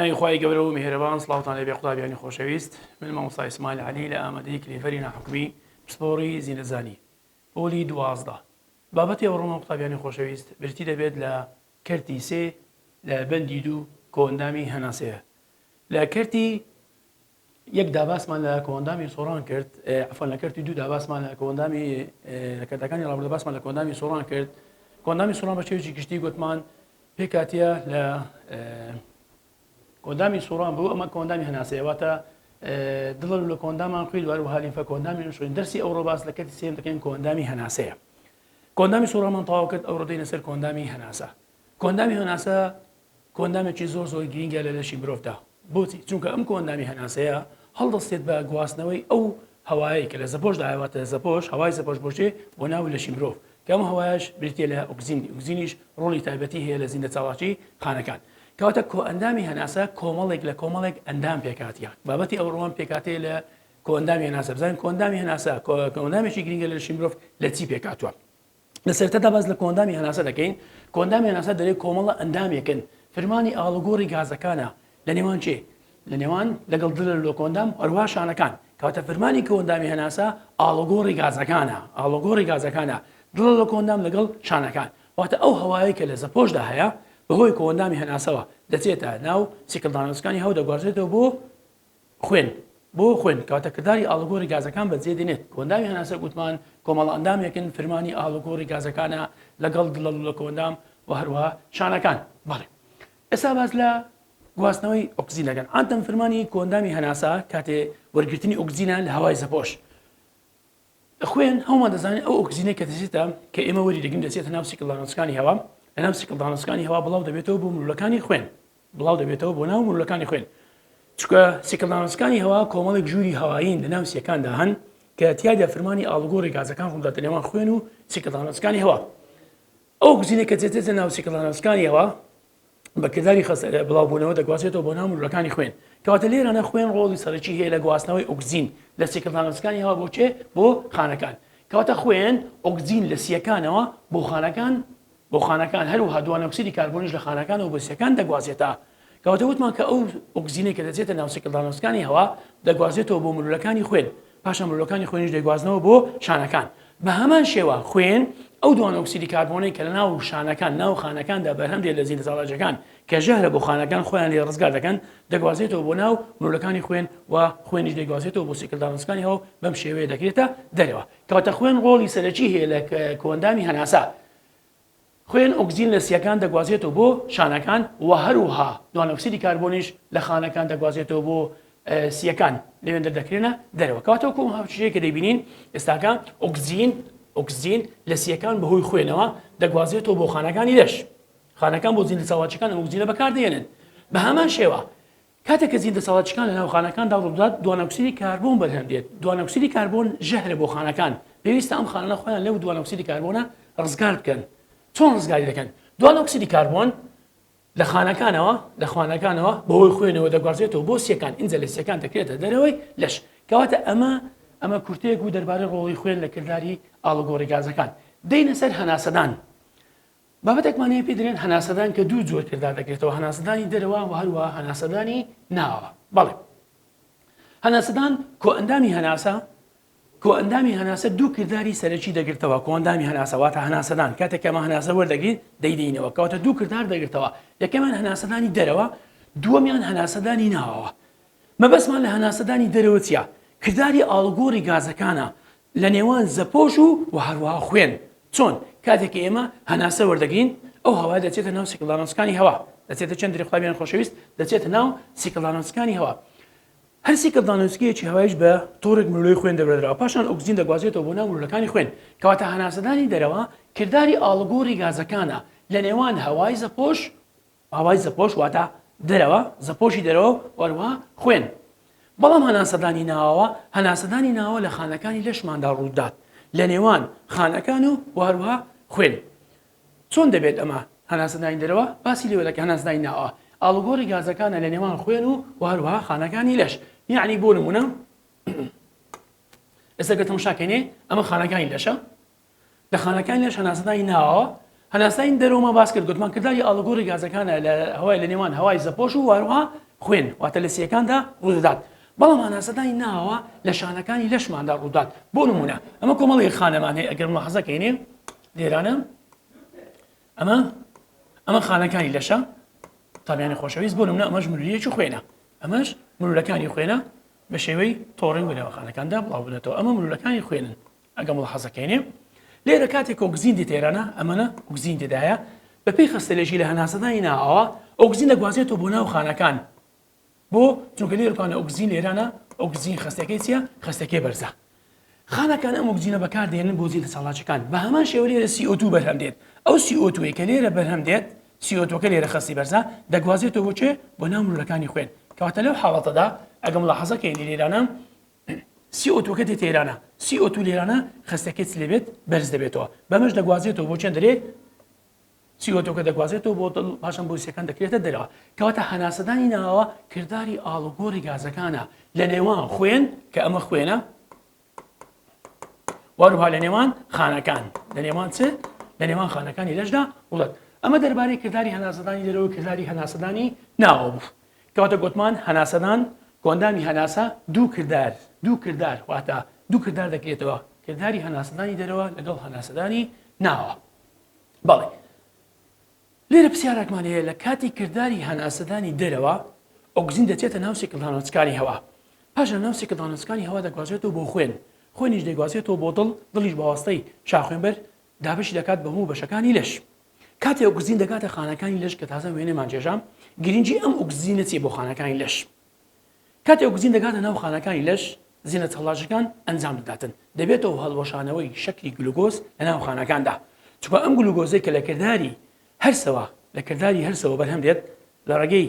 بەناوی خوای گەورە و میهرەبان سڵاوتان لێبێ قوتابیانی خۆشەویست من مامۆستا ئیسماعیل عەلی لە ئامادەی کلیڤەری ناحکومی پسپۆڕی زینەزانی پۆلی دوازدە بابەتی ئەوڕۆمان قوتابیانی خۆشەویست برتی دەبێت لە کەرتی سێ لە بەندی دوو کۆئەندامی هەناسەیە. لە کەرتی یەک دا باسمان لە کۆئەندامی سۆران کرد، عەفوەن لە کەرتی دوو دا باسمان لە کۆئەندامی لە کەرتەکانی ڕابردوو باسمان لە کۆئەندامی سۆران کرد. کۆئەندامی سۆران بە شێوەیەکی گشتی گوتمان پێکهاتە لە کۆئەندامی سۆران بوو، ئەمە کۆئەندامی هەناسەیە واتە دڵە لوولە کۆئەندامان خوێن و هەروەها لیمفە کۆئەندامی نوشخوێن. دەرسی ئەوڕۆ باس لە کەرتی سێیەم دەکەین کۆئەندامی هەناسەیە. کۆندامی سووڕامان تەواو کرد ئەوڕۆ دێینە سەر کۆندامی هەناسە کۆندامی هەناسە کۆندامێکی زۆر زۆر گرینگە لە لەشی مرۆڤدا بۆچی چونکە ئەم کۆندامی هەناسەیە هەڵدەستێت بە گواستنەوەی ئەو هەوایەی کە لە زەپۆش داواتە زەپۆش هەوای زەپۆش بۆشێ بۆ ناو لەشی مرۆڤ کەم هەوایش بریتە لە ئۆکزینی ئۆکزینیش ڕۆڵی تایبەتی هەیە لە زیندە چاڵاکی خانەکان کەواتە کۆئەندامی هەناسە کۆمەڵێک لە کۆمەڵێک ئەندام پێکاتیان بابەتی ئەوڕۆوان پێکاتێ لە کۆئەندامی هەناسە بزانین کۆئەندامی هەناسە کۆئەندامێکی گرنگە لە لەشی مرۆڤ لە چی پێکاتوە لە سەرتەدا باس لە کۆندامی هەناسە دەکەین کۆندامی هەناسە دەرێ کۆمەڵە ئەندامێکن فرمانی ئاڵوگۆڕی گازەکانە لە نێوان چێ لە نێوان لەگەڵ دلر لۆ کۆندام هەروە شانەکان کەواتە فرمانی کۆندامی هەناسە ئاڵۆگۆڕی گازەکانە ئاڵۆگۆڕی گازەکانە دڵ لە کۆندام لەگەڵ شانەکان واتە ئەو هەوایە کە لە زەپۆشدا هەیە بەهۆی کۆندامی هەناسەوە دەچێتە ناو سیکلدانەوەسەکانی هەو دەگوازێتەوە بۆ خوێن، بۆ خوێن کەواتە کرداری ئاڵوگۆڕی گازەکان بەجێ دێنێت، کۆئەندامی هەناسە گوتمان کۆمەڵە ئەندامێکن فرمانی ئاڵوگۆڕی گازەکانە لەگەڵ دڵە لوولە کۆئەندام و هەروەها شانەکان بەڵێ ئێستا باس لە گواستنەوەی ئۆکسجین دەکەن ئانتەم فرمانی کۆئەندامی هەناسە کاتێ وەرگرتنی ئۆکسجینە لە هەوای زەپۆش خوێن، هەموومان دەزانین ئەو ئۆکسجینەی کە دەچێتە کە ئێمە وەری دەگرین دەچێتە ناو سیکلدانەوسکانی هەوا لە ناو سیکلدانەوسکانی هەوا بڵاو دەبێتەوە بۆ مرولەکانی خوێن بڵاو دەبێتەوە بۆ ناو مرولەکانی خوێن چکە سیکلدانەوسکانی هەوا کۆمەڵێک ژووری هەوایین لە ناو سیەکاندا هەن کە تیادا فرمانی ئاڵگۆڕی گازەکان ڕووداتە نێوان خوێن و سیکلدانەوسکانی هەوا ئەو گزینە کە دێتێتە ناو سیکلدانەوسکانی هەوا بە کرداری خەست لە بڵاوبوونەوە دەگوازێتەوە بۆ ناو ملولەکانی خوێن کەواتە لێرانە خوێن ڕۆڵی سەرەکی هەیە لە گواستنەوەی ئۆکزین لە سیکلانسکانی هەوا بۆ چێ بۆ خانەکان کەواتە خوێن ئۆکزین لە سیەکانەوە بۆ خانەکان بۆ خانەکان هەروها دوانۆکسری کاربۆنیش لە خانەکان و بەسیەکان دەگوازێتە کەواتە وتمان کە ئەو ئۆکزینێک کە دەچێتە ناوسیکلدانۆسکانی هەوا دەگوازێتەوە بۆ ملولەکانی خوێن پاشان مۆلەکانی خوێنیش دەیگوازنەوە بۆ شانەکان. بە هەمان شێوە خوێن ئەو دوانە ئۆکسیدی کاربۆنەی کە لەناو شانەکان ناو خانەکاندا بەرهەم دێت لە زیندەزاڵاجەکان کە ژەهرە بۆ خانەکان خۆیان لێ ڕزگار دەکەن دەگوازێتەوە بۆ ناو مۆلەکانی خوێن و خوێنیش دەیگوازێتەوە بۆ سیکل داڕنسکانی هەوە بەم شێوەیە دەکرێتە دەرەوە کەواتە خوێن ڕۆڵی سەرەکی هەیە لە کۆندامی هەناسە خوێن ئۆکسجین لە سییەکان دەگوازێتەوە بۆ شانەکان و هەروها دوانۆکسیدی کاربۆنیش لە خانەکان دەگوازێتەوە بۆ سییەکان لەوێن دەردەکرێنە دەرەوە کەواتە وەکو ئەم هاوچییەی کە دەیبینین ئێستاکە ئۆکسجین ئۆکسجین لە سییەکان بەهۆی خوێنەوە دەگوازێتەوە بۆ خانەکانی لەش خانەکان بۆ زیندە ساواچەکان ئۆکسجینە بەکاردەهێنن بە هەمان شێوە کاتێک کە زیندەساڵتچکان لەناو خانەکاندا ڕووبدات، دوانەئۆکسیدی کاربۆن بەرهەم دێت، دوانەئۆکسیدی کاربۆن ژەهرە بۆ خانەکان، پێویستە ئەم خانانە خۆیان لەو دوانەئۆکسیدی کاربۆنە ڕزگار بکەن، چۆن ڕزگاری دەکەن؟ دوانەئۆکسیدی کاربۆن لە خانەکانەوە لە خوانەکانەوە بەهۆی خوێنەوە دەگوازرێتەوە بۆ سیەکان، ئینجا لە سیەکان دەکرێتە دەرەوەی لەش، کەواتە ئەمە ئەمە کورتەیەک بوو دەربارەی ڕۆڵی خوێن لە کرداری ئاڵوگۆڕی گازەکان. دێینە سەر هەناسەدان، بابەتێکمان هەیە پێی دەرێن هەناسەدان کە دوو جۆر کردار دەکرێتەوە هەناسەدانی دەرەوە و هەروە هەناسەدانی ناوە بەڵێ هەناسەدان کۆئەندامی هەناسە کۆئەندامی هەناسە دوو کردداری سەرەکی دەگرتەوە کۆندامی هەناسەواتە هەناسەدان کاتێکەمە هەناسە وەردەگرین دەیدینەوە کەواتە دوو کردار دەگرتەوە یەکەمان هەناسەدانی دەرەوە دووەمیان هەناسەدانی ناوەوە مەبەستمان لە هەناسەدانی دەرەوە چیە؟ کرداری ئاڵوگۆڕی گازەکانە لە نێوان زەپۆش و و هەروەها خوێن. چۆن؟ کاتێک کە ئێمە هەناسە وەردەگرین ئەو هەوایە دەچێتە ناو سیکلارۆنسکانی هەوا دەچێتە چەند دری قوتابیانی خۆشەویست دەچێتە ناو سیکلارۆنسکانی هەوا هەر سیکلدانۆسکیەکی هەوایش بە تۆڕێک ملوی خوێن دەبرێتەوە پاشان ئۆکسجین دەگوازێتەوە بۆ ناو ملولەکانی خوێن کەواتە هەناسەدانی دەرەوە کرداری ئاڵوگۆڕی گازەکانە لە نێوان هەوای زەپۆش ئاوای زەپۆش واتە دەرەوە، زەپۆشی دەرەوە و هەروەها خوێن. بەڵام هەناسەدانی ناوەوە، هەناسەدانی ناوەوە لە خانەکانی لەشماندا ڕوودات لە نێوان خانەکان و و هەروەها خوێن. چۆن دەبێت ئەمە هەناسەدانی دەرەوە باسی لێوە دەکەین هەناسەدانی ناوەوە ئاڵوگۆڕی گازەکانە لە نێوان خوێن و و هەروەها خانەکانی لەش یەعنی بۆ نموونە ئێستا گەر تەماشا کەینێ ئەمە خانەکانی لەشە لە خانەکانی لەش هەناسەدانی ناوەوە هەناسەدانی دەرەوەمان باس کرد گوتمان کرداری ئاڵوگۆڕی گازەکانە لە هەوای لە نێوان هەوای زەپۆش و واروها خوێن واتە لە سیەکاندا ڕوودەدات بەڵام هەناسەدانی ناوەوە لە شانەکانی لەشماندا ڕوودات بۆ نمونە ئەمە کۆمەڵی خانەمان هەیە ئەگەر مەحەزەکەینێ لێرانە ئەمە ئەمە خانەکانی لەشە تابیانی خۆشەویست بۆ نمونە ئەمەش مروریەکی خوێنە ئەمەش مرولەکانی خوێنە بە شێوەی تۆڕین بنەوەخانەکاندا بڵاو بنێتەوە ئەمە مرولەکانی خوێنن ئەگەر مولەحەزەکەینێ لێرە کاتێک ئۆگزین دێتە ئێرانە ئەمەنە ئۆگزین تێدایە بەپێی خەستەلێژی لە هەناسەدانی ناوەوە ئۆگزین دەگوازێتەوە بۆ ناو خانەکان بۆ چونکە لێرکانە ئۆگزین لێرانە ئۆگزین خەستەکەی چیە خەستەکەی بەرزە خانەکان ئەم ئۆگزینە بەکاردێنن بۆ زیندە سەڵاچەکان بە هەمان شێوە لێرە CO2 بەرهەم دێت ئەو CO2 کە لێرە بەرهەم دێت سیۆتۆکە لێرە خەستی بەرزە دەگوازێتەوە بۆچێ بۆ ناو مرۆەکانی خوێن کەواتە لەو حاڵەتەدا ئەگەم لە حەزەکەی لێرانە سی ئۆ تووەکە دێتە ئێرانە، سی ئۆ توو لێرانە خەستەکەی چ لێ بێت بەرز دەبێتەوە، بەمەش دەگوازێتەوە بۆ چێن دەرێ، سی ئۆ تووەکە دەگوازێتەوە بۆ دڵ، پاشان بۆریسەکان دەکرێتە دەرەوە. کەواتە هەناسەدانی ناوەوە کرداری ئاڵوگۆڕی گازەکانە لە نێوان خوێن، کە ئەمە خوێنە، و هەروها لە نێوان خانەکان، لە نێوان چ؟ لە نێوان خانەکانی لەشدا وڵت. ئەمە دەربارەی کرداری هەناسەدانی دەرەوە و کرداری هەناسەدانی ناوەوە بوو. کەواتە گۆتمان هەناسەدان کۆئەندامی هەناسە دوو کردار دوو کردار واتە دوو کردار دەکرێتەوە کرداری هەناسەدانی دەرەوە لەگەڵ هەناسەدانی ناوە بەڵێ لێرە پرسیارێکمان هەیە لە کاتی کرداری هەناسەدانی دەرەوە ئۆگزین دەچێتە ناو سێکلدانۆچکانی هەوا پاشە ناو سێکلدانۆچکانی هەوا دەگوازێتەوە بۆ خوێن خوێنیش دەگوازێتەوە بۆ دڵ دڵیش بەواستەی شاخوێنبەر دابش دەکات بە هەموو بەشەکانی لەش کاتێ ئۆکزین دەگاتە خانەکانی لەش کە تازە وێنەمان جێژام گرنگی ئەم ئۆکزینە چیە بۆ خانەکانی لەش کاتێ ئۆکزین دەگاتە ناو خانەکانی لەش زیینە چەڵاژەکان ئەنجام دەداتن دەبێتەوە هەڵوەشانەوەی شەکری گلوگۆز لە ناو خانەکاندا چکە ئەم گلوگۆزەی کە لە کردداری هەرسەوە لە کردداری هەرسەوە بەرهەم دێت لە ڕێگەی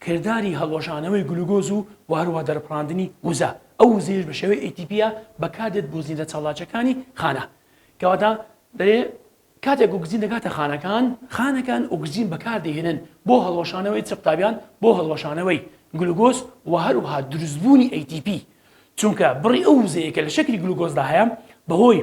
کرداری هەڵوەشانەوەی گلوگۆز و وهروها دەرپڕاندنی وزە، ئەو وزەیەش بە شێوەی ATP ە بەکاردێت بۆ زیندە چالاکیەکانی خانە کەواتە دەرێ کاتێک ئۆکسجین دەگاتە خانەکان، خانەکان ئۆکسجین بەکاردەهێنن بۆ هەڵوەشانەوەی چ قوتابیان بۆ هەڵوەشانەوەی گلوگۆز وهروها دروستبوونی ATP چونکە بڕی ئەو وزەیە کە لە شەکری گلوگۆزدا هەیە بەهۆی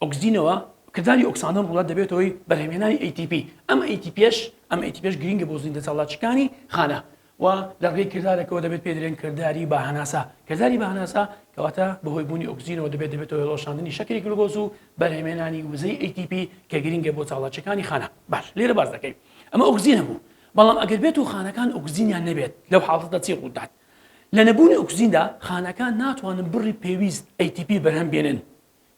ئۆکسدینەوە، کرداری ئۆکسانن ڕووڵە دەبێتە هۆی بەرهەمهێنانی ATP، ئەم ئەیتیپیەش ئەم ئەیتیپیەش گرینگە بۆ زیندە چالاکیکانی خانە و لە ڕێی کردارەکەوە دەبێت پێ دەرێن کرداری باهەناسە کرداری باهەناسە کەواتە بەهۆی بوونی ئۆکسجینەوە دەبێت دەبێت هۆڵۆشاندنی شەکری گلوگۆز و بەرهەمێنانی وزەی ATP کە گرینگە بۆ چاڵاچەکانی خانە باش لێرە باز دەکەین ئەمە ئۆکسجینە بوو بەڵام ئەگەر بێت و خانەکان ئۆکسجینیان نەبێت لەو حاڵەتە چی ڕوودات لە نەبوونی ئۆکسجیندا خانەکان ناتوانن بڕی پێویست ATP بەرهەم بێنن،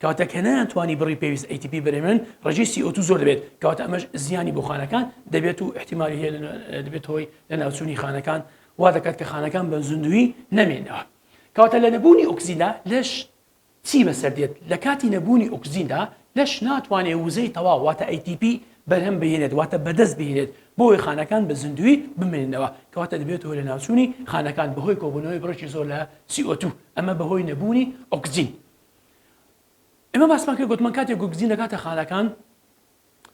کەواتە کە نەیانتوانی بڕی پێویست ATP بەرهەم بێنن ڕێژەی CO2 زۆر دەبێت، کەواتە ئەمەش زیانی بۆ خانەکان دەبێت و ئیحتیمالی هەیە دەبێت هۆی لەناوچوونی خانەکان وا دەکات کە خانەکان بە زیندوویی نەمێنەوە، کەواتە لە نەبوونی ئۆکسجیندا لەش چی بەسەر دێت، لە کاتی نەبوونی ئۆکسجیندا لەش ناتوانێت وزەی تەواو واتە ATP بەرهەم بهێنێت واتە بەدەست بهێنێت بۆوەی خانەکان بە زیندووی بمێننەوە کەواتە دەبێت هۆی لەناوچوونی خانەکان بەهۆی کۆبوونەوەی بڕێکی زۆر لە CO2 ئەمە بەهۆی نەبوونی ئۆکسجین ئێمە باسمان کرد گوتمان کاتێک گوگزین دەکاتە خانەکان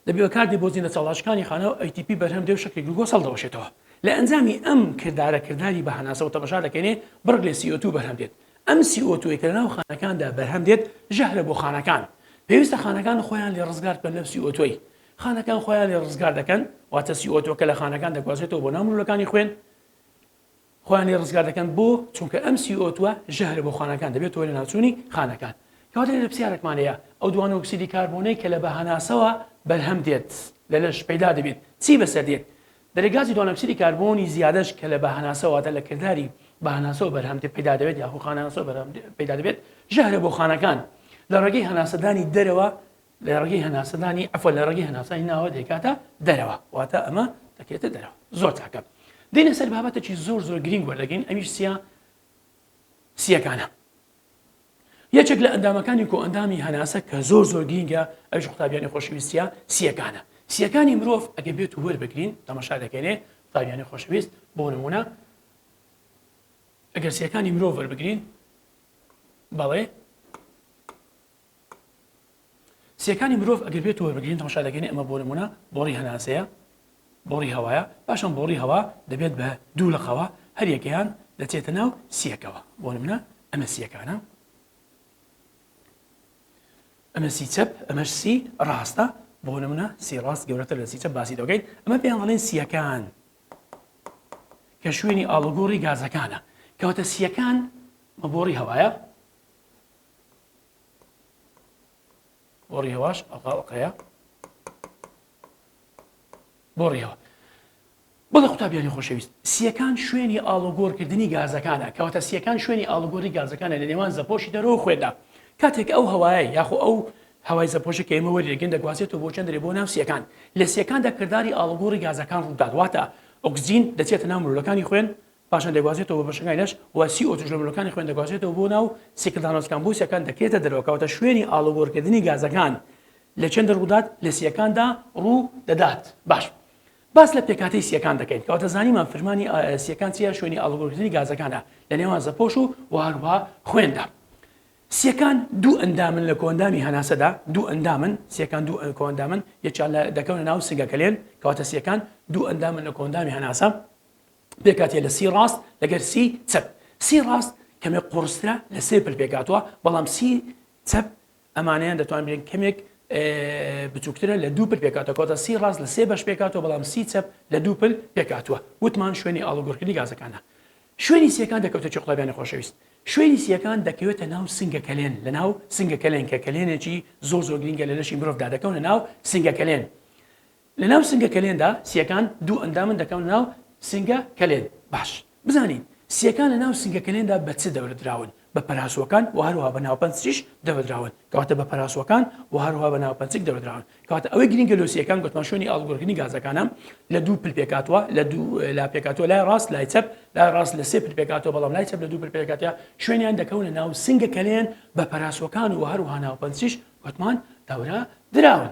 دەبێ کاتی بۆ زیندە چاڵاشکانی خانە و ئەیتیپی بەرهەم دێ و شەکری گلوکۆز هەڵدەوەشێتەوە لە ئەنجامی ئەم کردارە کرداری بە هەناسەوە تەمەشا دەکەینێ بڕگ لە سی ئۆ توو بەرهەم دێت ئەم سی ئۆ تووەی کە لەناو خانەکاندا بەرهەم دێت ژەهرە بۆ خانەکان پێویستە خانەکان خۆیان لێ ڕزگار بکەن لەم سی ئۆ تووەی خانەکان خۆیان لێ ڕزگار دەکەن واتە سی ئۆ تووەکە لە خانەکان دەگوازێتەوە بۆ ناو مروولەکانی خوێن خۆیان لێ ڕزگار دەکەن بۆ چونکە ئەم سی ئۆ توە ژەهرە بۆ خانەکان دەبێتەوە لە ناوچوونی خانەکان کەواتە لێرە پرسیارێکمان هەیە ئەو دوانە ئۆکسیدی کاربۆنەی کە لە بە هەناسەوە بەرهەم دێت لە لەش پەیدا دەبێت چی بەسەر دێت دەرێ گازی دوانە ئۆکسیدی کاربۆنی زیادەش کە لە بە هەناسەوەواتە لە کرداری بە هەناسەوە بەرهەم دێت پەیدا دەبێت یاخۆ خانەناسەوە بەرهەم پەیدا دەبێت ژەهرە بۆ خانەکان لە ڕێگەی هەناسەدانی دەرەوە لەڕێگەی هەناسەدانی ئەفە لە ڕێگەی هەناسانی ناوە دەکاتە دەرەوە واتە ئەمە دەکرێتە دەرەوە زۆر تاکە دێنە سەر بابەتێکی زۆر زۆر گرنگ وەردەگەین ئەویش سیا سیەکانە یەکێک لە ئەندامەکانی کۆ ئەندامی هەناسە کە زۆر زۆر گرینگە ئەوش قوتابیانی خۆشویستە سیەکانە سیەکانی مرۆڤ ئەگە بێت و وەربگرین تەمەشا دەکەێ قوتابیانی خۆشویست بۆ نمونە ئەگەر سیەکانی مرۆڤ وەربگرین بەڵێ سیەکانی مرۆڤ ئەگەر بێتو وەربگرین تەماشا دەکەین ئەمە بۆ نمونە بۆڕی هەناسەیە بۆڕی هەوایە پاشان بۆڕی هەوا دەبێت بە دوو لقەوە هەریەکەیان دەچێتە ناو سیەکەوە بۆ نمونە ئەمە سیەکانە ئەمە سی چەپ ئەمەش سی ڕاستە بۆ نمونە سی ڕاست گەورەتر لە سی چەپ باسی دەگەین ئەمە پێیان دەڵێن سیەکان کە شوێنی ئاڵوگۆڕی گازەکانە کەواتە سیەکان مەبۆڕی هەوایە بۆ ڕیهواش ئەڵا ئۆقەیە بۆ ڕیهوە بەڵێ قوتابیانی خۆشەویست سیەکان شوێنی ئاڵوگۆڕکردنی گازەکانە کەواتە سیەکان شوێنی ئاڵوگۆری گازەکانە لە نێوان زەپۆشی دەرەوە خوێدا کاتێک ئەو هەوایە یاخۆ ئەو هەوای زەپۆشی کە ئێمە وەرێگەن دەگوازێتەوە بۆ چەندێ بۆ ناوسیەکان لە سیەکاندا کردداری ئاڵگۆڕی گازەکان ڕوودادواتە ئۆکسزین دەچێتە ناو مرۆلەکانی خوێن پاشان دەگوازرێتەوە بۆ بەشەکانی لەش و سی ئۆ تووش لە ملوڵکانی خوێن دەگوازرێتەوە بۆ ناو سیکلدانۆس کان بۆ سییەکان دەکرێتە دەرەوە کەواتە شوێنی ئاڵوگۆرکردنی گازەکان لە چەندە ڕوودات لە سییەکاندا ڕوو دەدات باش باس لە پێکاتەی سییەکان دەکەین کەواتە زانیمان فرمانی سییەکان چیە شوێنی ئاڵوگۆرکردنی گازەکانە لە نێوان زەپۆش و وهروها خوێندا سیەکان دوو ئەندامن لە کۆندامی هەناسەدا دوو ئەندامن سیەکان دوو کۆندامن یەکیان دەکەونە ناو سنگەکەلێن کەواتە سیەکان دوو ئەندامن لە کۆندامی هەناسە پێکهاتە لە سی ڕاست لەگەر سی چەپ سی ڕاست کەمێک قوڕسترە لە سێ پل پێکهاتوە بەڵام سی چەپ ئەمانەیان دەتوان بێن کەمێک بچووکترە لە دوو پل پێکاتە کۆتە سی ڕاست لە سێ بەش پێکاتەوە بەڵام سی چەپ لە دوو پل پێکاتوە وتمان شوێنی ئاڵوگۆڕکردنی گازەکانە شوێنی سیەکان دەکەوتە چ قڵبیانی خۆشەویست شوێنی سیەکان دەکەوێتە ناو سنگە کەلێن لە ناو سنگە کەلێن کە کەلێنێکی زۆر زۆر گرنگە لە لەشی مرۆڤدا دەکەونە ناو سنگە کەلێن لە ناو سنگە کەلێندا سیەکان دوو ئەندامن دەکەونە ناو سنگە کەلێن باش بزانین سیەکان لە ناو سنگە کەلێندا بە چ دەورە دراون بە پەراسوەکان وە هەروەها بە ناوپەنچیش دەورە دراون کەواتە بە پەراسوەکان وە هەروەها بە ناوپەنچک دەورە دراون کەواتە ئەوەی گرینگە لۆ سیەکان گۆتمان شوێنی ئاڵگۆرکردنی گازەکانە لە دوو پل پێکاتوە لە دوو لا پێکاتوە لای ڕاست لای چەپ لای ڕاست لە سێ پر پێکاتوە بەڵام لای چەپ لە دوو پر پێکاتە شوێنیان دەکەونە ناو سنگە کەلێن بە پەراسوەکان و هەروەها ناوپەنچیش گۆتمان دەورە دراون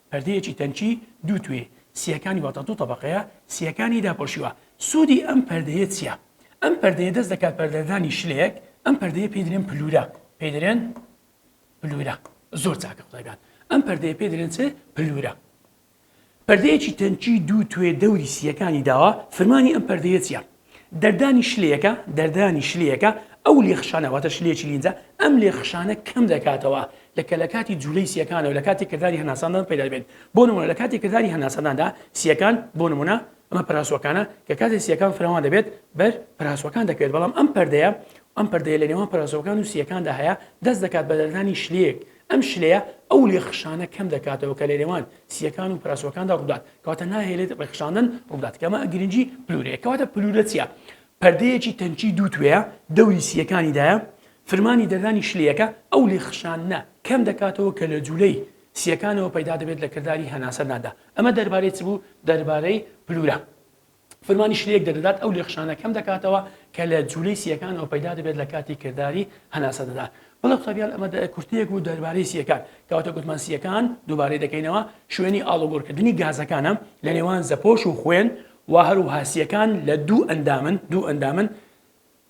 پەردەیەکی تەنکی دوو توێی سییەکانی واتە دوو تەبەقەیە سییەکانی داپۆشیوە، سوودی ئەم پەردەیە چییە؟ ئەم پەردەیە دەست دەکات بە دەردانی شلەیەک، ئەم پەردەیە پێی دەلێن پلورە، پێی دەلێن پلورە، زۆر چاکە قوتابیان، ئەم پەردەیە پێی دەلێن چ؟ پلورە. پەردەیەکی تەنکی دوو توێ دەوری سییەکانی داوە، فرمانی ئەم پەردەیە چییە؟ دەردانی شلەیەکە، دەردانی شلەیەکە، ئەو لێخشانە واتە شلەیەکی لینجە، ئەم لێخشانە کەم دەکاتەوە لە کە لە کاتی جوولەی سییەکانەوە لە کاتی کرداری هەناساندان پەیدا دەبێت بۆ نموونە لە کاتی کرداری هەناسانداندا سییەکان بۆ نموونە ئەمە پراسوەکانە کە کاتی سییەکان فراوان دەبێت بەر پراسوەکان دەکەوێت بەڵام ئەم پەردەیە ئەم پەردەیە لە نێوان پراسوەکان و سییەکاندا هەیە دەست دەکات بە دەردانی شلەیەک ئەم شلەیە ئەو لێخشانە کەم دەکاتەوە کە لەنێوان سییەکان و پراسۆکاندا ڕوودات کەواتە ناهێلێت ڕێکخشاندن ڕوودات کەمە گرنگی پلورەیە کەواتە پلورە چیە پەردەیەکی تەنکی دوو توێە دەوری سییەکانیدایە فرمانی دەردانی شلەکە ئەو لێخشانە کەم دەکاتەوە کە لە جوولەی سییەکانەوە پەیدا دەبێت لە کرداری هەناسەداندا ئەمە دەربارەی چ بوو دەربارەی پلورە فرمانیش لێک دەردەدات ئەو لێخشانە کەم دەکاتەوە کە لە جولەی سییەکانەوە پەیدا دەبێت لە کاتی کرداری هەناسەدەدان بەڵێ قوتابیان ئەمە کورتەیەک بوو دەربارەی سییەکان کەواتە گوتمان سییەکان دووبارەی دەکەینەوە شوێنی ئاڵوگۆڕکردنی گازەکانە لە نێوان زەپۆش و خوێن و هەروها سییەکان لە دوو ئەندامن دوو ئەندامن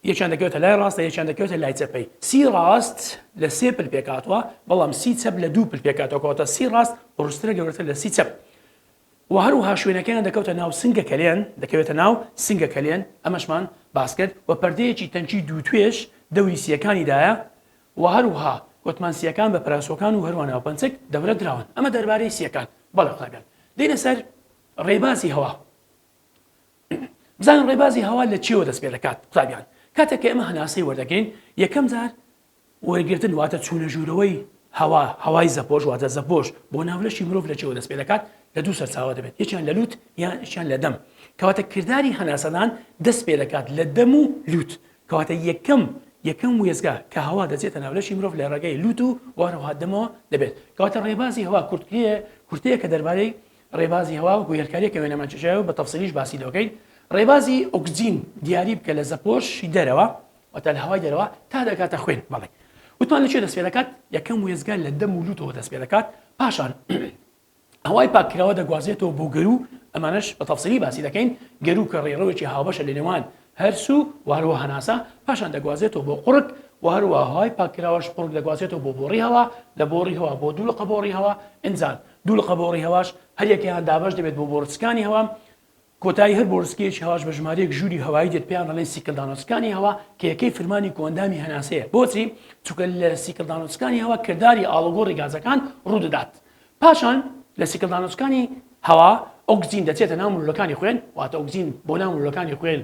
یەکیان دەکەوێتە لای ڕاستە یەکیان دەکەوێتە لای چەپەی سی ڕاست لە سێ پل پێکاتوە بەڵام سی چەپ لە دوو پل پێکاتەوەکەوەتە سی ڕاست ڕسترە گەورەتر لە سی چەپ و هەروەها شوێنەکەیان دەکەوتە ناو سنگە کەلێن، دەکەوێتە ناو سنگە کەلێن، ئەمەشمان باس کرد، و پەردەیەکی تەنکی دوو توێش دەوری سییەکانی دایە، و هەروەها وتمان سییەکان بە پەراسۆکان و هەروەها ناوپەنچەک دەورە دراون. ئەمە دەربارەی سییەکان. بەڵێ قوتابیان. دێینە سەر ڕێبازی هەوا. بزانە ڕێبازی هەوا لە چییەوە دەست پێ دەکات قوتابیان. کاتێک کە ئێمە هەناسەی وەردەگرین، یەکەم جار وەرگرتن واتە چوونە ژوورەوەی هەوا، هەوای زەپۆش واتە زەپۆش بۆ ناو لەشی مرۆڤ لە چیەوە دەست پێ دەکات؟ لە دوو سەرچاوە دەبێت یەکیان لە لووت یەکیان لە دەم کەواتە کرداری هەناسەدان دەست پێ دەکات لە دەم و لووت کەواتە یەکەم یەکەم وێستگە کە هەوا دەچێتە ناو لەشی مرۆڤ لە ڕێگەی لووت و وەهەروەها دەمەوە دەبێت کەواتە ڕێبازی هەوا کورتکرێ کورتەیە کە دەربارەی ڕێبازی هەوا و گوێرکاریە کە وێنەمان چێژایەوە بە تەفسیلیش باسی لێ بکەین ڕێبازی ئۆکسجین دیاری بکە لە زەپۆشی دەرەوە واتە لە هەوای دەرەوە تا دەگاتە خوێن بەڵێ. وتمان لە کوێ دەست پێ دەکات؟ یەکەم وێستگە لە دەم و لووتەوە دەست پێ دەکات، پاشان هەوای پاککراوە دەگوازێتەوە بۆ گەروو، ئەمانەش بە تەفسیلی باسی دەکەین، گەروو کە ڕێڕەوێکی هاوبەشە لە نێوان هەرس و و هەروەها هەناسە، پاشان دەگوازێتەوە بۆ قوڕگ و هەروەها هەوای پاککراوەش قوڕگ دەگوازێتەوە بۆ بۆڕی هەوا، لە بۆڕی هەوا بۆ دوولقە بۆڕی هەوا، ئینجا دوولقە بۆڕی هەواش هەریەکەیان دابەش دەبێت بۆ بۆڕچکانی هەوا، کۆتایی هەر بۆڕسکەیەکی هەواش بە ژمارەیەک ژووری هەوایی دێت پێیان دەڵێن سیکلدانۆسکانی هەوا کە یەکەی فرمانی کۆئەندامی هەناسەیە بۆچی چونکە لە سیکلدانۆسکانی هەوا کرداری ئاڵوگۆڕی گازەکان ڕوودەدات پاشان لە سیکلدانۆسکانی هەوا ئۆکسجین دەچێتە ناو ملولەکانی خوێن واتە ئۆکسجین بۆ ناو ملولەکانی خوێن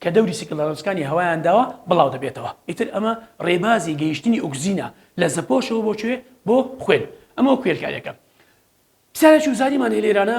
کە دەوری سیکلدانۆسکانی هەوایان داوە بڵاو دەبێتەوە ئیتر ئەمە ڕێبازی گەیشتنی ئۆکسجینە لە زەپۆشەوە بۆ کوێ بۆ خوێن ئەمەوە کوێرکاریەکە پرسیارێکی وزاریمان هەیە لێرانە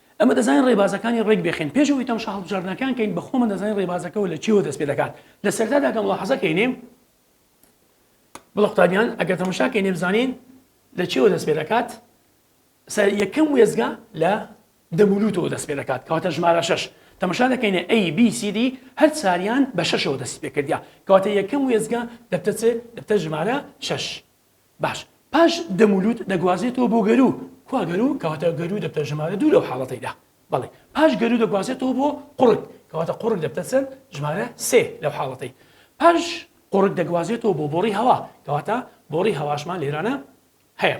ئێمە دەزانین ڕێبازەکانی ڕێک بێخێن، پێش ئەوەی تەمشا هەڵبژاردنەکان کەین بە خۆمان دەزانین ڕێبازەکەوە لە چیەوە دەست پێ دەکات، لە سەرەتادا کە مولاحەزە کەینێ بڵێ قوتابیان ئەگەر تەمشا کەینێ بزانین لە چیەوە دەست پێ دەکات سەر یەکەم وێزگە لە دەمولوتەوە دەست پێ دەکات کەواتە ژمارە شش تەمەشا دەکەینە ئەی BCD هەر ساریان بە شەشەوە دەست پێکردیا کەواتە یەکەم وێزگە دەبتەچێ دەبتە ژمارە شش باش پاش دەم و لووت دەگوازێتەوە بۆ گەروو، کوا گەروو؟ کەواتە گەروو دەبتە ژمارە دوو لەو حاڵەتەیدا، بەڵێ پاش گەروو دەگوازێتەوە بۆ قوڕگ، کەواتە قوڕگ دەبتە چەند؟ ژمارە سێ لەو حاڵەتەی پاش قوڕگ دەگوازێتەوە بۆ بۆڕی هەوا، کەواتە بۆڕی هەواشمان لێرانە هەیە.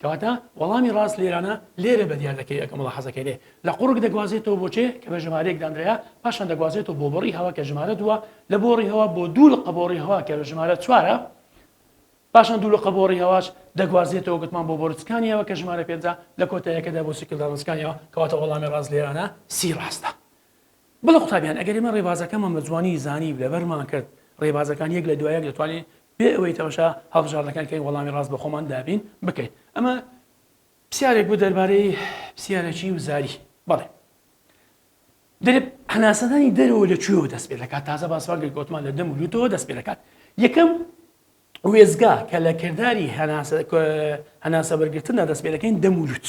کەواتە وەڵامی ڕاست لێرانە لێرە بەدیار دەکەوێت کە مەڵا حەزەکەی لێ لە قوڕگ دەگوازێتەوە بۆ چێ کە بە ژمارەیەک دانرایە، پاشان دەگوازێتەوە بۆ بۆڕی هەوا کە ژمارە دووە، لە بۆڕی هەوا بۆ دوو لقە بۆڕی هەوا کە بە ژمارە چوارە، پاشان دوو لقە بۆڕی هەواش دەگوازێتەوە گوتمان بۆ بۆرد سکانیاوە کە ژمارە پێنجە، لە کۆتایەکەدا بۆ سیکل داڕن سکانیاوە، کەواتە وەڵامی ڕاست لێرانە سی ڕاستە. بەڵێ قوتابیان ئەگەر ئێمە ڕێبازەکەمان بە جوانی زانی و لەبەرمان کرد ڕێبازەکان یەک لە دوای یەک دەتوانین بێ ئەوەی تەمەشا هەڵبژاردنەکان کەین وەڵامی ڕاست بۆ خۆمان دابین بکەین ئەمە پسیارێک بوو دەربارەی پسیارەکی و زاری بەڵێ دەێت هەناسەدانی دەرەوە لە کوێوە دەست پێ دەکات تازە باسواگەر گوتمان لە دەم و لوتەوە دەست پێ دەکات یەکەم وێزگا کە لە کردداری هەناسە هەناسە بەرگتندا دەست پێ دەکەین دەمولوت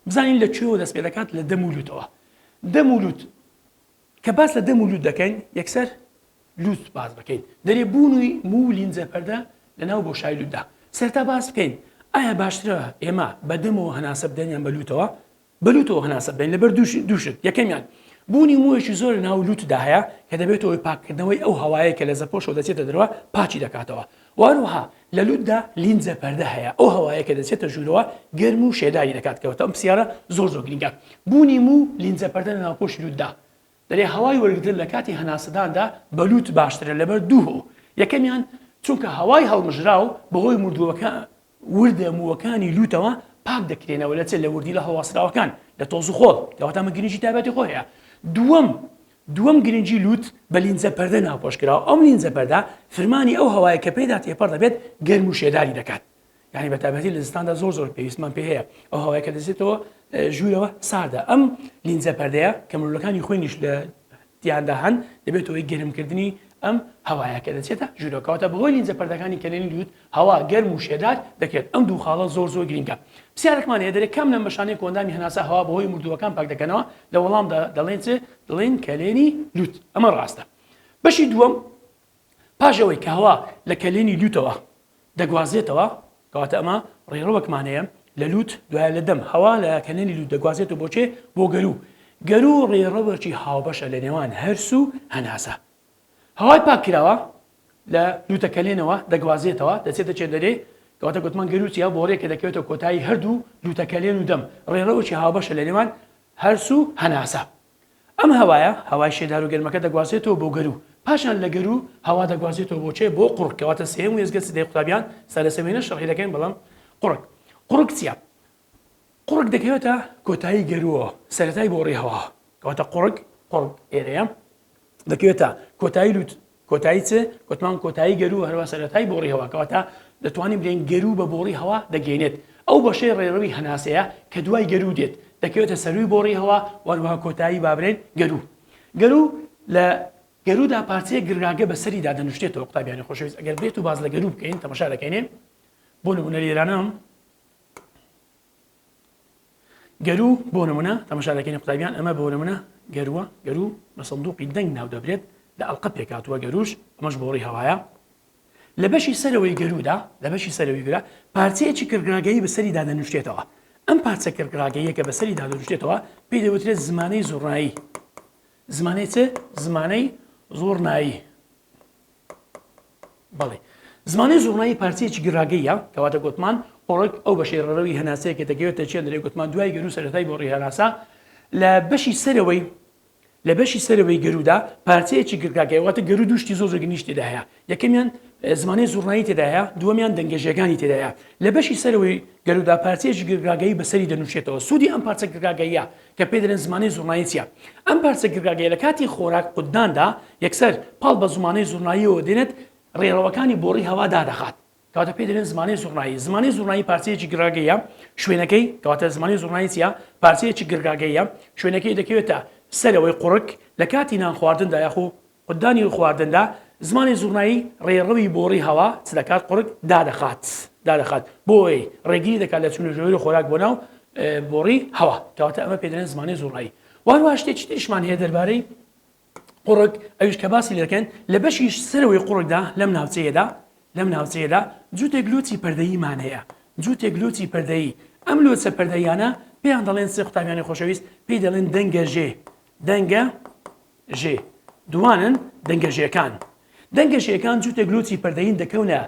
بزانین لە کوێوە دەست پێ دەکات لە دەم و لوتەوە دەم و لوت کە باس لە دەم و لوت دەکەین یەکسەر لوت باز بکەین دەرێ بوونی موو لینجە پەردە لە ناو بۆ شای لوتدا سەرتا باس بکەین ئایا باشترە ئێمە بەدەمەوە هەناسە بدەنیان بەلوتەوە بەلوتەوە هەناسە بدەین لەبەر دووشت یەکەمیان بوونی موویشی زۆر ناو لوتدا هەیە کە دەبێتەوەی پاککردنەوەی ئەو هەوایە کە لە زەپۆشەوە دەچێتە درەوە پاچی دەکاتەوە وهەروەها لە لوتدا لینجە پەردە هەیە ئەو هەوایە کە دەچێتە ژوورەوە گەرم و شێداری دەکات کەواتە ئەم پرسیارە زۆر زۆر گرینگە بوونی موو لینجە پەردە لە ناوپۆشی لوتدا دەرێ هەوای وەرگرتن لە کاتی هەناسەداندا بە لوت باشترە لەبەر دوو هۆ یەکەمیان چونکە هەوای هەڵمژراو بەهۆی مردووەکە وردە مووەکانی لووتەوە پاک دەکرێنەوە لە چ لە وردیلە هەڵواسراوەکان لە تۆز و خۆڵ کەواتە من گرنگی تابەتی خۆ هەیە دووەم دووەم گرنگی لووت بە لینجە پەردە ناپۆشکراوە ئەم لینجە پەردە فرمانی ئەو هەوایە کە پێدا تێپەڕ دەبێت گەرم و شێداری دەکات یعنی بەتابەتی لە زستاندا زۆر زۆر پێویستمان پێ هەیە ئەو هەوای کە دەزێتەوە ژوورەوە ساردە ئەم لینجە پەردەیە کە مرۆلەکانی خوێنیش لە تیاندا هەن، دەبێتە هۆی گەرمکردنی ئەم هەوایە کە دەچێتە ژوورەوە، کەواتە بەهۆی لینجە پەردەکانی کەلێنی لووت هەوا گەرم و شێدار دەکرێت، ئەم دوو خاڵە زۆر زۆر گرینگە. پرسیارەکمان هەیە دەرێ کام لەم بەشانەی کە ئەندامی هەناسە هەوا بەهۆی مردووەکان پاک دەکەنەوە؟ لە وەڵامدا دەڵێین چ؟ دڵێین کەلێنی لووت. ئەمە ڕاستە. بەشی دووەم. پاش ئەوەی کە هەوا لە کەلێنی لووتەوە دەگوازێتەوە، کەواتە ئەمە ڕێڕەوەکمان هەیە لە لووت دوایە لە دەم، هەوا لە کەلێنی لووت دەگوازێتەوە بۆ کێ؟ بۆ گەروو. گەروو ڕێڕەوێکی هاوبەشە لە نێوان هەرس و هەناسە. هەوای پاککراوە لە لووتە کەلێنەوە دەگوازێتەوە دەچێتە کێ دەرێ، کەواتە گوتمان گەروو چییە؟ بۆڕییەکە دەکەوێتە کۆتایی هەردوو لووتە کەلێن و دەم، ڕێڕەوێکی هاوبەشە لە نێوان هەرس و هەناسە. ئەم هەوایە، هەوای شێدارو گەرمەکە دەگوازێتەوە بۆ گەروو، پاشان لە گەروو هەوا دەگوازێتەوە بۆ چێ بۆ قوڕگ کەواتە سێیەم وێستگە سدەی قوتابیان سا لەسەر وێنە شەڕحی دەکەین بەڵام قوڕگ قوڕگ چیە؟ قوڕگ دەکەوێتە کۆتایی گەرووەوە سەرەتای بۆڕی هەواوە کەواتە قوڕگ قوڕگ ئێرەیە دەکەوێتە کۆتایی لوت کۆتایی چ گوتمان کۆتایی گەرو هەروە سەرەتای بۆڕی هەوا کەواتە دەتوانین بلێن گەرو بە بۆڕی هەوا دەگەێنێت ئەو بەشەی ڕێڕەوی هەناسەیە کە دوای گەرو دێت دەکەوێتە سەروی بۆڕی هەوا وەروها کۆتایی بابرێن گەرو گەرو لە گەرودا پارچەیە گرگاگە بە سەری دادەنوشتێتەوە قوتابیانی خۆشەویست ئەگەر بێت و باز لە گەرو بکەین تەمەشا دەکەینێ بۆ نمونە لێرانم گەروو بۆ نمونە تەمەشا دەکەین قوتابیان ئەمە بۆ نمونە گەرووە گەروو بە سندوقی دەنگ ناو دەبرێت لە ئەڵقە پێکاتوە گەرووش ئەمەش بۆڕی هەوایە لە بەشی سەرەوەی گەروودا لە بەشی سەرەوەی گرە پارچەیەکی کڕگراگەی بەسەری دادەنوشتێتەوە ئەم پارچە کڕگراگەیە کە بەسەری دادەنوشتێتەوە پێی دەوترێت زمانەی زوڕایی زمانەی چ زمانەی زۆرنایی بەڵی زمانی زوڕنایی پارچەیەکی گراگەییە کەواتە گۆتمان ئۆڕک ئەو بەشەی ڕەرەوی هەناسەیە کە دەگەوێتە چێ لەرێ گۆتمان دوای گەرو سەرەتای بۆڕی هەناسە لە بەشی سەرەوەی لە بەشی سەرەوەی گەرودا پارچەیەکی گرگاگەی واتە گەرو دوشتی زۆر زۆر گنیش تێدا هەیە یەکەمیان زمانی زوڕنایی تێدا هەیە دووەمیان دەنگەژەکانی تێدا هەیە لە بەشی سەرەوەی گەرودا پارچەیەکی گرگاگەی بەسەری دەنووشێتەوە سوودی ئەم پارچە گرگاگەیە کە پێی دەلێن زمانەی زوڕنایی چییە؟ ئەم پارچە گرگاگەیە لە کاتی خۆراک قوتداندا یەکسەر پاڵ بە زمانەی زوڕناییەوە دێنێت رێڕەوەکانی بۆڕی هەوا دادەخات کەواتە پێی دەلێن زمانەی زوڕنایی زمانەی زوڕنایی پارچەیەکی گراگەیە شوێنەکەی کەواتە زمانی زوڕنایی چییە پارچەیەکی گرگاگەیە شوێنەکەی دەکەوێتە سەرەوەی قوڕک لە کاتی نان خواردندا یاخو قوتدانی و خواردندا، زمانی زوڕنایی ڕێڕەوی بۆڕی هەوا چ دەکات؟ قوڕگ دادەخات، دادەخات، بۆی ڕێگری دەکات لە چوونە ژووری خۆراک بۆ ناو بۆڕی هەوا، کەواتە ئەمە پێ دەڵێن زمانی زوڕنایی. وە هەروەها شتێکی تریشمان هەیە دەربارەی قوڕگ، ئەویش کە باسی لێ دەکەین، لە بەشی سەرەوەی قوڕگدا، لەم ناوچەیەدا، لەم ناوچەیەدا جووتێک لووتی پەردەییمان هەیە، جووتێک لووتی پەردەیی، ئەم لووتە پەردەییانە پێیان دەڵێن، سێ قوتابیانی خۆشەویست، پێی دەڵێن دەنگەژێ، دەنگە ژێ دووانن دەنگە ژێکان. دەنگە ژێکان جووتێک لووتی پەردەیین دەکەونە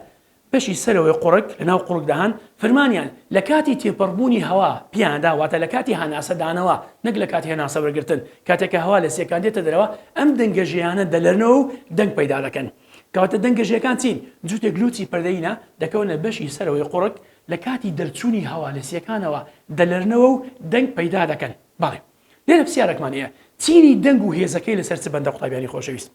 بەشی سەرەوەی قوڕگ، لەناو قوڕگدا هەن، فرمانیان لە کاتی تێپەڕبوونی هەوا پێیاندا، واتە لە کاتی هەناسەدانەوە نەک لە کاتی هەناسەوەرگرتن، کاتێک کە هەوا لە سیەکان دێتە دەرەوە ئەم دەنگە ژێیانە دەلەرنەوە و دەنگ پەیدا دەکەن. کەواتە دەنگە ژێکان چین؟ جووتێک لووتی پەردەیینە دەکەونە بەشی سەرەوەی قوڕگ، لە کاتی دەرچوونی هەوا لە سیەکانەوە دەلەرنەوە و دەنگ پەیدا دەکەن. بەڵێ. لێرە پسیارەکمان هەیە چینی دەنگ و هێزەکەی لەسەر چ بەندە قوتابیانی خۆشەویست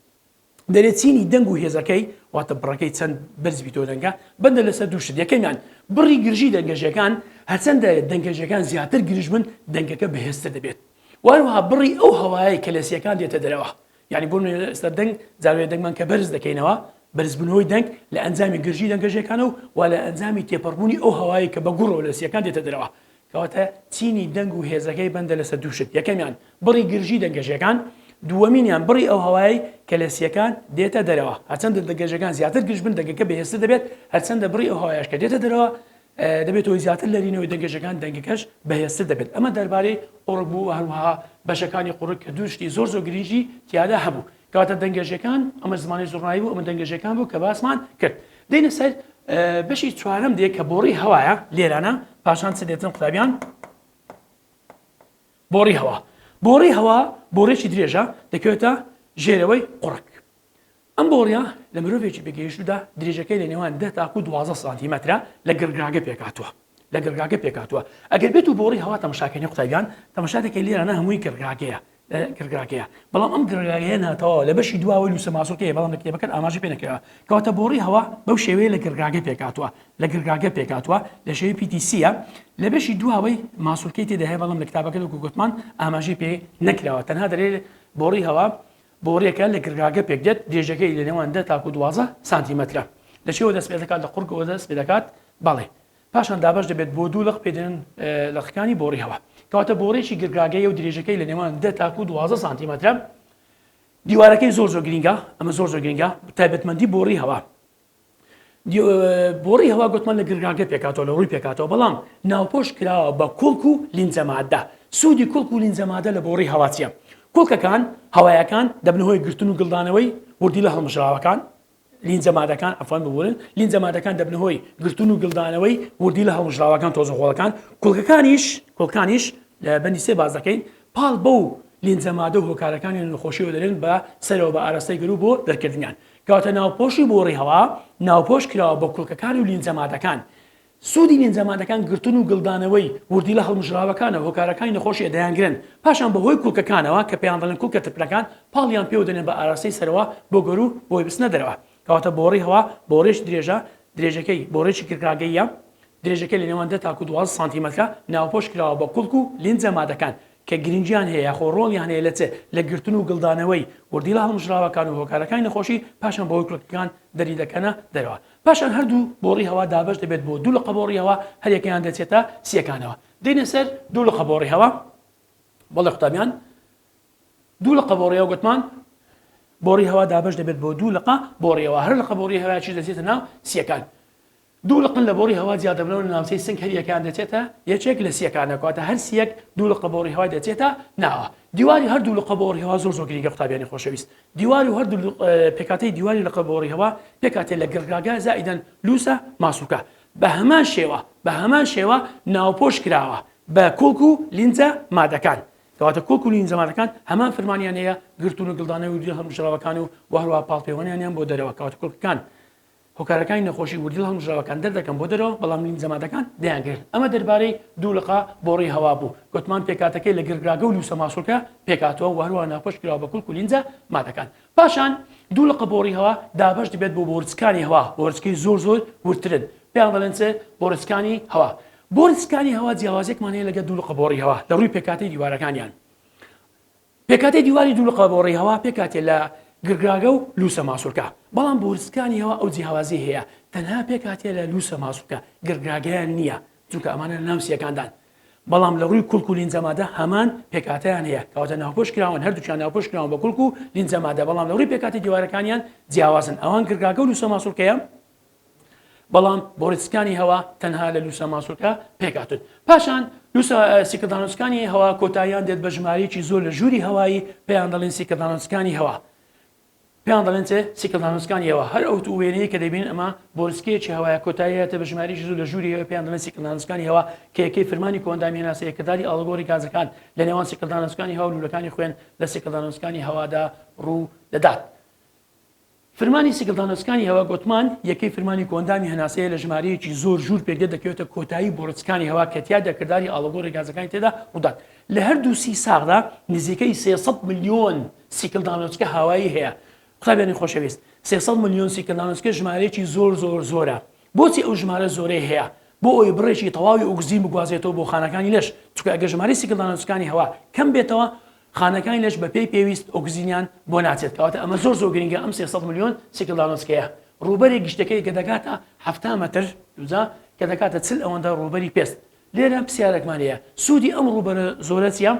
دەرێ چینی دەنگ و هێزەکەی واتە بڕەکەی چەند بەرز بیتۆ دەنگە بەندە لەسەر دوو شت یەکەمیان بڕی گرژی دەنگەژەکان هەرچەندە دەنگەژەکان زیاتر گرژ بن دەنگەکە بەهێزتر دەبێت وانوها بڕی ئەو هەوایەی کە لە سیەکان دێتە دەرەوە یعنی بۆ ئێستا دەنگ زاوێ دەنگمان کە بەرز دەکەینەوە بەرزبوونەوەی دەنگ لە ئەنجامی گرژی دەنگەژەکانە و وا لە ئەنجامی تێپەڕبوونی ئەو هەوایی کە بە گوڕەوە لە سیەکان دێتە دەرەوە کەواتە چینی دەنگ و هێزەکەی بەندە لەسەر دوو شت، یەکەمیان بڕی گرژی دەنگە ژێکان، دووەمینیان بڕی ئەو هەوایەی کە لە سیەکان دێتە دەرەوە، هەرچەندە دەنگە ژێکان زیاتر گرژ بن دەنگەکە بەهێزتر دەبێت، هەرچەندە بڕی ئەو هەوایەش کە دێتە دەرەوە دەبێت هۆی زیاتر لەرینەوەی دەنگە ژێکان دەنگەکەش بەهێزتر دەبێت، ئەمە دەربارەی قوڕگ بوو، هەروەها بەشەکانی قوڕگ کە دوو شتی زۆر زۆر گرنگی تیادا هەبوو. کەواتە دەنگێژەکان ئەمە زمانی زڕنایی بوو ئەمە دەنگێژەکان بوو کە باسمان کرد دێنە سەر بەشی چوارم دێ کە بۆڕی هەوایە لێرانە پاشان چ دێتن قوتابیان بۆڕی هەوا بۆڕی هەوا بۆڕێکی درێژە دەکەوێتە ژێرەوەی قڕک ئەم بۆڕە لە مرۆڤێکی بگەیشتودا درێژەکەی لە نێوان دە تاکو دوازە سانتیمەترە لە گرگاگە پێکاتوە لە گرگاگە پێکاتوە ئەگەر بێت و بۆڕی هەوا تەمەشاکەنی قوتابیان تەمەشا دەکەی لێرانە هەمووی گرگاگەیە گڕگراگەیە، بەڵام ئەم گڕگراگەیە ناتەواوە، لە بەشی دواوەی لوسە ماسولکە هەیە، بەڵام لە کتێبەکەت ئاماژەی پێ نەکراوە. کەواتە بۆڕی هەوا بەو شێوەیە لە گڕگراگە پێکهاتووە، لە گڕگراگە پێکهاتووە، لە شێوەی PTC ە، لە بەشی دواوەی ماسولکەی تێدا هەیە، بەڵام لە کتابەکەت وەکو گوتمان ئاماژەی پێ نەکراوە، تەنها دەلێ بۆڕی هەوا بۆڕیەکە لە گڕگاگە پێکدێت، درێژەکەی لە نێوان دە تاکو دوازدە سانتیمەترە. لە چیەوە دەست پێدەکات؟ لە قوڕگەوە دەست پێدەکات، بەڵێ. پاشان دابەش دەبێت بۆ دوو لق پێ دەێن لقەکانی بۆڕی هەوا کەواتە بۆڕێکی گرگاگەی و درێژەکەی لە نێوان دە تاکو دوازە سانتیمەترە دیوارەکەی زۆر زۆر گرنگە ئەمە زۆر زۆر گرنگە تایبەتمەندی بۆڕی هەوا بۆڕی هەوا گوتمان لە گرگاگە پێکاتەوە لە ڕووی پێکاتەوە بەڵام ناوپۆش کراوە بە کوڵک و لینجەمادە سوودی کوڵک و لینجەمادە لە بۆڕی هەواچیە کوڵکەکان هەوایەکان دەبنەوەی گرتن و گڵدانەوەی وردی لە هەڵمژراوەکان لینجە مادەکان عەفوەن ببورن لینجە مادەکان دەبنە هۆی گرتن و گلدانەوەی وردی لە هەڵمژراوەکان تۆزە خۆڵەکان کوڵکەکانیش کوڵکانیش لە بەندی سێ باز دەکەین پاڵ بەو لینجە مادە و هۆکارەکانی نەخۆشیەوە دەرێن بە سەرەوە بە ئاراستەی گەرو بۆ دەرکردنیان کەواتە ناوپۆشی بۆڕی هەوا ناوپۆش کراوە بە کوڵکەکان و لینجە مادەکان سوودی نینجا مادەکان گرتن و گلدانەوەی وردی لە هەڵمژراوەکانە و هۆکارەکانی نەخۆشیە دەیانگرن پاشان بەهۆی کوڵکەکانەوە کە پێیان دەڵێن کوڵکە ترپنەکان پاڵیان پێوە دەنێن بە ئاراستەی سەرەوە بۆ گەروو بۆی بچنە دەرەوە کەواتە بۆڕی هەوا بۆڕێکی درێژە درێژەکەی بۆڕێکی کرکڕاگەییە درێژەکەی لە نێوان دە تاکوو دوازدە سانتیمەترە ناوپۆش کراوە بە کوڵک و لینجە مادەکان کە گرنگیان هەیە یاخۆ ڕۆڵیان هەیە لە چ لە گرتن و گلدانەوەی وردی لە هەڵمژراوەکان و هۆکارەکانی نەخۆشی پاشان بەهۆی کوڵکەکان دەریدەکەنە دەرەوە پاشان هەردوو بۆڕی هەوا دابەش دەبێت بۆ دوو لقە بۆڕی هەوا، هەریەکەیان دەچێتە سییەکانەوە. دێینە سەر دوو لقە بۆڕی هەوا، بەڵێ قوتابیان، دوو لقە بۆڕی هەوا گوتمان بۆڕی هەوا دابەش دەبێت بۆ دوو لقە بۆڕی هەوا، هەر لقە بۆڕی هەوایەکیش دەچێتە ناو سییەکان. دوو لقن لە بۆڕی هەوا جیا دەبنەوە لە ناوچەی سنگ، هەریەکەیان دەچێتە یەکێک لە سییەکانەوە، کەواتە هەر سییەک دوو لقە بۆڕی هەوای دەچێتە ناوە. دیواری هەردوو لقە بۆڕی هەوا زۆر زۆر گرینگە قوتابیانی خۆشەویست، دیواری و هەردوو پێکهاتەی دیواری لقە گۆڕییەوە پێکهاتەی لە گڕگاگە زائیدەن لووسە ماسوولکە بە هەمان شێوە بە هەمان شێوە ناوپۆش کراوە بە کوڵک و لینجە مادەکان کەواتە کوڵک و لینجە مادەکان هەمان فرمانیان هەیە گرتوون و گڵدانەوەی و دوێ هەڵمژراوەکان و و هەروەها پاڵپێوەنیانیان بۆ دەرەوە کەواتە کوڵکەکان هۆکارەکانی نەخۆشی وردو هەڵمژراوەکان دەردەکەم بۆ دەرەوە، بەڵام نیم جەمادەکان دەیانگرت. ئەمە دەربارەی دوو لقە بۆڕی هەوا بوو. گۆتمان پێکهاتەکەی لە گرگراگە و لوسە ماسولکە پێکهاتووە و هەروەها ناوپۆش کراوە بە کلک و لینجە مادەکان. پاشان دوو لقە بۆڕی هەوا دابەش دەبێت بۆ بۆرچکانی هەوا، بۆرچکەی زۆر زۆر وردترن پێیان دەڵێن چ؟ بۆرچکانی هەوا. بۆرچکانی هەوا جیاوازیەکمان هەیە لەگەل دوو لقە بۆڕی هەوا لە ڕووی پێکهاتەی دیوارەکانیان. پێکهاتەی دیواری دوو لقەبۆڕی هەوا پێکهاتەیە لە گرگاگە و لووسە ماسوولکە، بەڵام بوورسکانی هەوا ئەو جیهوازیەی هەیە تەنها پێکهاتەیە لە لووسە ماسوولکە، گرگاگەیان نییە، چونکە ئەمانە لە ناو سییەکاندان، بەڵام لە ڕووی کلک و لینجە مادە هەمان پێکهاتەیان هەیە، کەواتە ناوپۆش کراون، هەردووکیان ناوپۆش کراون بە کلک و لینجە مادە، بەڵام لە ڕووی پێکهاتەی دیوارەکانیان جیاوازن، ئەوان گرگاگە و لووسە ماسوولکەیە. بەڵام بۆریسکانی هەوا تەنها لە لوسە ماسولکە پێکهاتوون پاشان لوسە سیکردانۆسکانی هەوا کۆتاییان دێت بە ژمارەیەکی زۆر لە ژووری هەوایی پێیان دەڵین سیکردانۆسکانی هەوا پێیان دەڵێن چێ سیکردانۆسکانی هەوا هەر ئەوت و وێنەیە کە دەبین ئەمە بۆریسکێکی هەوایە کۆتاییەتە بە ژمارەیەکی زۆر لە ژووری هەوە پێیان دەڵێن سیکردانۆسکانی هەوا کە یەکەی فرمانی کۆندامی هێناسەیە کرداری ئاڵگۆری گازەکان لە نێوان سیکردانۆسکانی هەوا و لولەکانی خوێن لە سیکردانۆسکانی هەوادا ڕوو دەدات فرمانی سیگڵدانۆسکانی هەوا گۆتمان، یەکەی فرمانی کۆئەندامی هەناسەیە لە ژمارەیەکی زۆر ژوور پێکدێت دەکەوێتە کۆتایی بۆڕچکانی هەوا کە تیادا کرداری ئاڵوگۆڕی گازەکانی تێدا ڕوودات لە هەردوو سی ساغدا نزیکەی سێ سەد ملیۆن سیکڵدانۆچکە هاوایی هەیە قوتابیانی خۆشەویست سێ سەد ملیۆن سیکڵدانۆچکە ژمارەیەکی زۆر زۆر زۆرە بۆچی ئەو ژمارە زۆرەی هەیە بۆ ئەوی بڕێکی تەواوی ئۆکسجین بگوازێتەوە بۆ خانەکانی لەش چکە ئەگە ژماری سیکڵدانۆچکانی هەوا کەم بێتەوە خانەکانی لەش بە پێی پێویست ئۆکسجینیان بۆ ناچێت کەواتە ئەمە زۆر زۆر گرنگە ئەم سێ سەد ملیۆن سیکلدانۆسکەیە ڕووبەری گشتەکەی کە دەگاتە حەفتا مەتر دووجا کە دەگاتە چل ئەوەندە ڕووبەری پێست لێرە پرسیارێکمان هەیە سوودی ئەم ڕووبەرە زۆرە چیە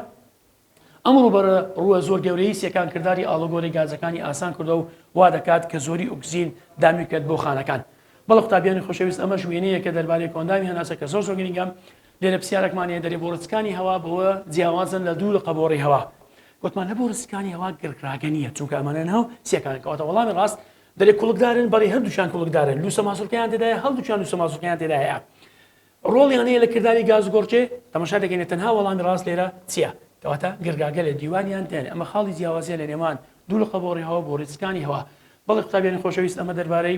ئەم ڕووبەرە ڕووە زۆر گەورەی سیەکان کردداری ئاڵۆگۆری گازەکانی ئاسان کردەوە و وا دەکات کە زۆری ئۆکسجین دامی بکات بۆ خانەکان بەڵە قوتابیانی خۆشەویست ئەمەش وێنەیە کە دەربارەی کۆندامی هەناسە کە زۆر زۆر گرنگە لێرە پرسیارەکمان هەیە، دەرێ بۆڕسکانی هەوا بەوە جیاوازن لە دوو لقە بۆڕی هەوا؟ گوتمان لە بۆڕسکانی هەوا گرکڕاگە نییە، چونکە ئەمانە ناو سیەکانن، کەواتە وەڵامی ڕاست، دەرێ کوڵکدارن، بەڵی هەردووکیان کوڵکدارن، لووسە ماسوڵکەیان تێدایە، هەڵدووکیان لووسە ماسوڵکەیان تێدا هەیە. ڕۆڵیان هەیە لە کرداری گازگۆڕکێ، تەماشا دەکەینە تەنها وەڵامی ڕاست لێرە چییە؟ کەواتە گرگاگە لە دیوانیان دێنێ، ئەمە خاڵی جیاوازیە لە نێوان دوو لقە بۆڕی هەوا و بۆڕسکانی هەوا. بەڵی قوتابیانی خۆشەویست ئەمە دەربارەی